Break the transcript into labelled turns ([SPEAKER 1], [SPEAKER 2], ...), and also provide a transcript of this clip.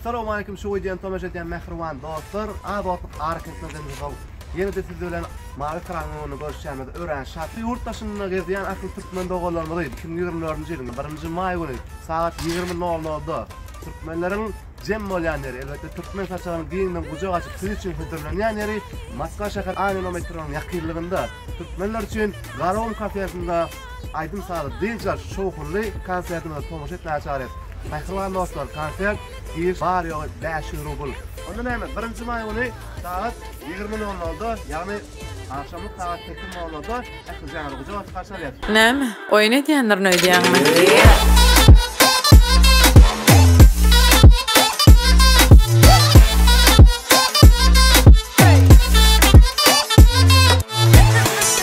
[SPEAKER 1] Salowmalikim şu wideony tomaşa edýän mähriban dostlar az otlyk arkinçde dynjysow ýenede siz bilen mawy ekranyň öňünde görüşýämiz örän şat ýurt daşynda gezýän ahli türkmen doganlarymyzy iki müň ýigrimi dördünji ýylyň birinji maý güni sagat ýigrimi nol nolda türkmenleriň jem bolýan ýeri elbetde türkmen saçagynyň giňden gujak açyp siz üçin hödürlenýän ýeri moskwa şäher aninometronyň ýakynlygynda türkmenler üçin garawun kafesinde Aýdym-sazy dynç alyş şowhunly konsertimize tomaşa etmäge çagyrýarys. Mähriban dostlar, konsert giriş bary-ýogy bäş ýüz rubl. Onda näme, birinji maý güni sagat ýigrimi nol nolda, ýagny agşamlyk sagat sekiz nol nolda ähli jana guja basyp garşy alýarys. Näme, oýun edýändirin öýdýäňmi?